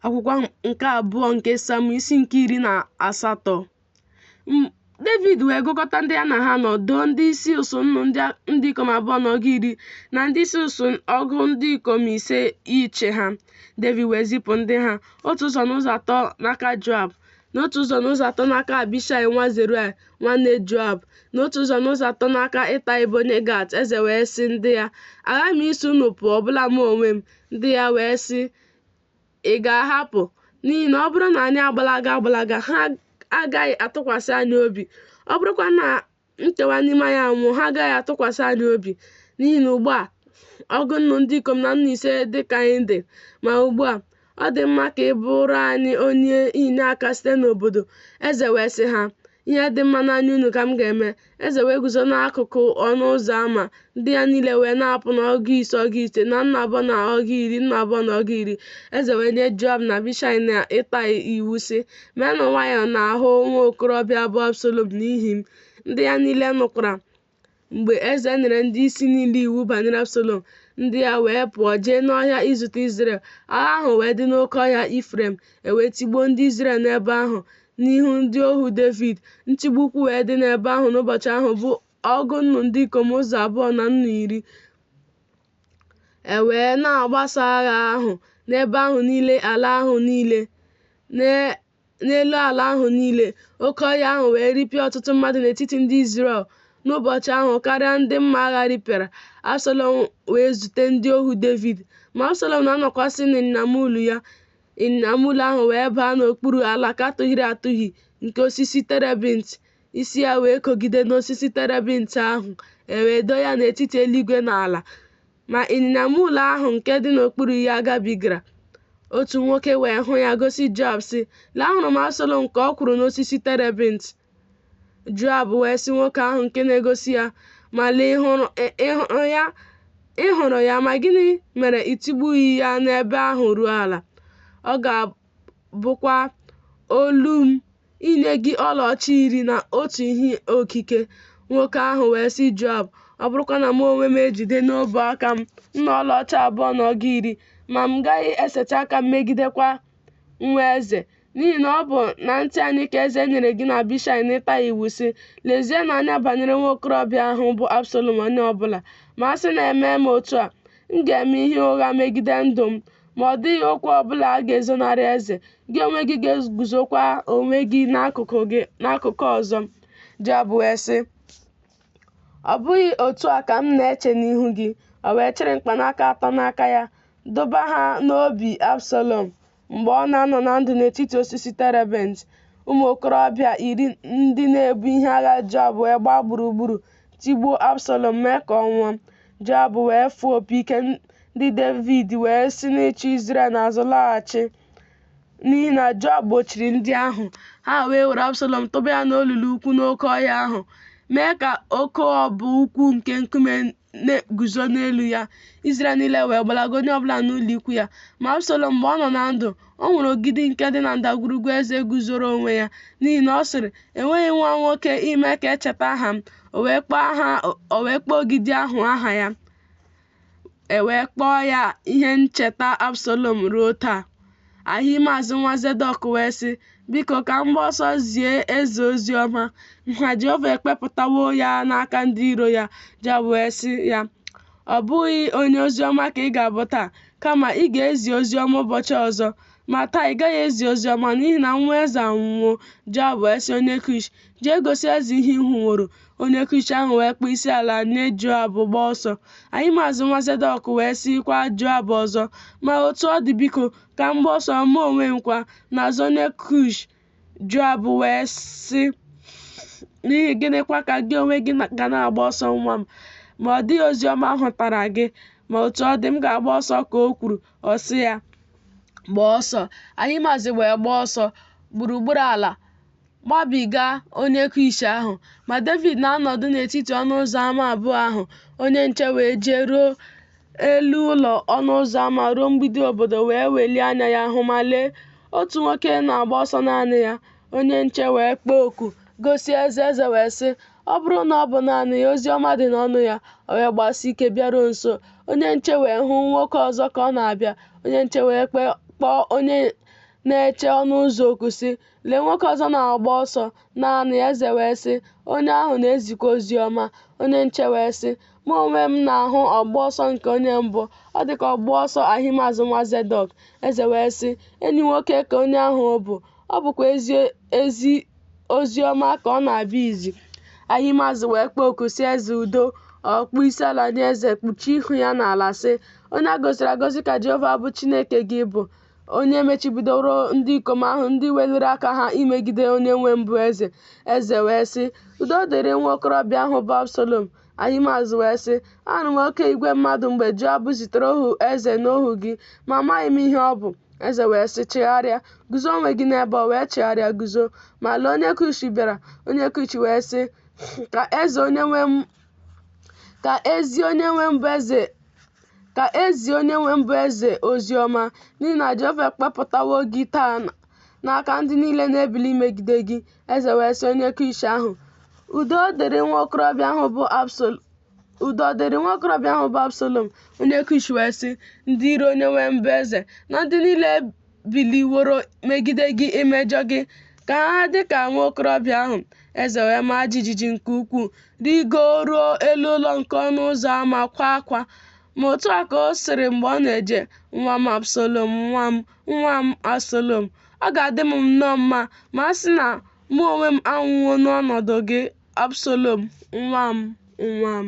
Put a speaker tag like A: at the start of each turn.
A: akwụkwọ nke abụọ nke sam isi nke iri na asatọ david wee gụkọta ndị ya na ha nọ doo ndị isi usuu nnu ndị ikom abụọ na ọgụ iri na ndị isi usuu ọgụ ndị ikom ise ịchị ha david wee zipụ ndị ha otu ụzọ n'ụzọ atọ n'aka joab na otu ụzọ n'ụzọ atọ n'aka abishai nwa zeruaya nwanne joab na otu ụzọ n'ụzọ atọ n'aka itai bụ onye gat eze wee sị ndị ya aghaghị m iso unu pụọ ọbụla mụ onwe m Ndị ya wee sị, Ị gaghị apụ. N'ihi na ọ bụrụ na anyị agbalaga agbalaga, ha agaghị atụkwasị anyị obi. Ọ bụrụkwa na nkewa n'ime anyị anwụọ, ha agaghị atụkwasị anyị obi. N'ihi na ugbu a, ọgụ nnu ndị ikom na nnu ise dị ka anyị dị. Ma ugbu a, ọ dị mma ka ị bụrụ anyị onye inyeaka site n'obodo. Eze wee sị ha, Ihe dị mma n'anya unu ka m ga-eme. Eze wee guzo n'akụkụ ọnụ ụzọ ama, ndị ya niile wee na-apụ n'ọgụ ise ọgụ ise na nnu abụọ na ọgụ iri nnu abụọ na ọgụ iri. Eze wee nye Joab na Abishai na Itai iwu sị, Meenụ nwayọọ n'ahụ nwa okorobịa bụ Absalom n'ihi m. Ndị ya niile nụkwara. Mgbe eze nyere ndị isi niile iwu banyere Absalọm, ndị ya wee pụọ jee n'ọhịa izute Izrel. Agha ahụ wee dị n'oke ọhịa Ifrem, e wee tigbuo ndị Izrel n'ebe ahụ n'ihu ndị ohu Devid. Ntigbu ukwu wee dị n'ebe ahụ n'ụbọchị ahụ bụ ọgụ nnu ndị ikom ụzọ abụọ na nnu iri. E wee na-agbasa agha ahụ n'ebe ahụ niile ala ahụ niile n'elu ala ahụ niile, oke ọhịa ahụ wee ripịa ọtụtụ mmadụ n'etiti ndị Izrel n'ụbọchị ahụ karịa ndị mma agha ripịara. Absalọm wee zute ndị ohu Devid, ma Absalọm na-anọkwasị n'ịnyịnya muul ya, ịnyịnya muul ahụ wee baa n'okpuru alaka tụhịrị atụhị nke osisi terebint, isi ya wee kogide n'osisi terebint ahụ, e wee doo ya n'etiti eluigwe na ala. Ma ịnyịnya muul ahụ nke dị n'okpuru ya gabigara. Otu nwoke wee hụ ya gosi Joab sị, Lee ahụrụ m Absalom ka ọ kwụrụ n'osisi terebint. Joab wee sị nwoke ahụ nke na-egosi ya, Ma lee ị hụrụ ya ma gịnị mere i tigbughị ya n'ebe ahụ ruo ala? Ọ ga bụkwa ọlụ m inye gị ọlaọcha iri na otu ihe okike. Nwoke ahụ wee sị Joab, Ọ bụrụkwa na mụ onwe m ejide n'ọbụ aka m nnu ọlaọcha abụọ na ọgụ iri, ma m gaghị esetị aka m megidekwa nwa eze, n'ihi na ọ bụ na ntị anyị ka eze nyere gị na Abishai na Itai iwu sị, Lezienụ anya banyere nwa okorobịa ahụ bụ Absalọm onye ọ bụla, ma a sị na emee m otu a, m ga-eme ihe ụgha megide ndụ m. ma ọ dịghị okwu ọ bụla a ga-ezonarị eze, gị onwe gị ga-eguzokwa onwe gị n'akụkụ ọzọ. Joab wee sị, Ọ bụghị otu a ka m na-eche n'ihu gị. O wee chịrị mkpanaka atọ n'aka ya, dụba ha n'obi Absalọm mgbe ọ na-anọ na ndụ n'etiti osisi terebent. Ụmụ okorobịa iri ndị na-ebu ihe agha Joab wee gbaa gburugburu tigbuo Absalọm mee ka ọ nwụọ. Joab wee fụọ opi ike ndị Devid wee si n'ịchụ Izrel n'azụ laghachi n'ihi na Joab gbochiri ndị ahụ ha wee were Absalọm tụba ya n'olulu ukwu n'oke ọhịa ahụ mee ka oke obo ukwu nke nkume na-eguzo n'elu ya Izrel niile wee gbalaga onye ọbụla n'ụlọ ikwu ya ma Absalọm mgbe ọ nọ na ndụ O nwere ogidi nke dị na ndagwurugwu eze guzoro onwe ya, n'ihi na ọ sịrị, Enweghị nwa nwoke ime ka e cheta aha m, o wee kpọọ ogidi ahụ aha ya. E wee kpọọ ya ihe ncheta Absalom ruo taa. Ahimaaz nwa Zedọk wee sị, Biko ka m gbaa ọsọ zie eze ozi ọma na Jehova ekpepụtawo ya n'aka ndị iro ya. Joab wee sị ya, Ọ bụghị onye ozi ọma ka ị ga-abụ taa, Kama ị ga-ezi ozi ọma ụbọchị ọzọ, ma taa ị gaghị ezi ozi ọma n'ihi na nwa eze anwụwo. Joab wee sị onye Kush, Jee gosi eze ihe ị hụworo. Onye Kush ahụ wee kpọọ isi ala nye Joab gbaa ọsọ. Ahimaaz nwa Zedọk wee sịkwa Joab ọzọ, Ma otu ọ dị biko, ka m gbaa ọsọ mụ onwe m kwa, n'azụ onye Kush, Joab wee sị, N'ihi gịnịkwa ka gị onwe gị ga na-agba ọsọ nwa m? Ma ọ dịghị ozi ọma a hụtara gị, ma otu ọ dị m ga-agba ọsọ ka o kwuru, ọ sị ya, Gbaa ọsọ. Ahimaaz wee gbaa ọsọ gburugburu ala gbabiga onye Kush ahụ. Ma Devid na-anọdụ n'etiti ọnụ ụzọ ama abụọ ahụ, onye nche wee jee ruo elu ụlọ ọnụ ụzọ ama ruo mgbidi obodo wee welie anya ya hụ ma lee otu nwoke na-agba ọsọ naanị ya onye nche wee kpọọ oku gosi eze eze wee sị ọ bụrụ na ọ bụ naanị ya ozi ọma dị n'ọnụ ya o wee gbasi ike bịaruo nso onye nche wee hụ nwoke ọzọ ka ọ na-abịa onye nche wee kpọọ onye na-eche ọnụ ụzọ oku sị lee nwoke ọzọ na-agba ọsọ naanị ya eze wee sị onye ahụ na-ezikwa ozi ọma onye nche wee sị Mụ onwe m na-ahụ ọgba ọsọ nke onye mbụ, ọ dị ka ọgba ọsọ Ahimaaz nwa Zedọk. Eze wee sị, Enyi nwoke ka onye ahụ bụ, ọ bụkwa ezi ozi ọma ka ọ na-abịa izi. Ahimaaz wee kpọọ oku sị eze udo, ọ kpọọ isi ala nye eze, kpuchie ihu ya n'ala sị, Onye a gọziri agọzi ka Jehova bụ Chineke gị bụ, onye mechibidoro ndị ikom ahụ ndị weliri aka ha imegide onye nwe m bụ eze. Eze wee sị, Udo ọ dịrị nwa okorobịa ahụ bụ Absalọm. Ahimaaz wee sị, Anụ m oke igwe mmadụ mgbe Joab zitere ohu eze na ohu gị, ma amaghị m ihe ọ bụ. Eze wee sị, Chegharịa, guzo onwe gị n'ebe a. O wee chegharịa guzo. Ma lee onye Kush bịara. Onye Kush wee sị, Ka e zie onye nwe m bụ eze ozi ọma n'ihi na Jehova ekpepụtawo gị taa n'aka ndị niile na-ebili imegide gị Eze wee sị onye Kush ahụ, Udo dịrị nwa okorobịa ahụ bụ Absalom. Onye Kush wee sị, Ndị iro onye nwe m bụ eze na ndị niile biliworo megide gị imejọ gị ka ha dị ka nwa okorobịa ahụ. Eze wee maa jijiji nke ukwuu, rigoruo elu ụlọ nke ọnụ ụzọ ama kwaa akwa. Ma otu a ka ọ sịrị mgbe ọ na-eje, Nwa m Absalom, nwa m, nwa m Absalọm, ọ ga-adị m nnọọ mma ma a sị na mụ onwe m anwụwo n'ọnọdụ gị, Absalọm, nwa m, nwa m.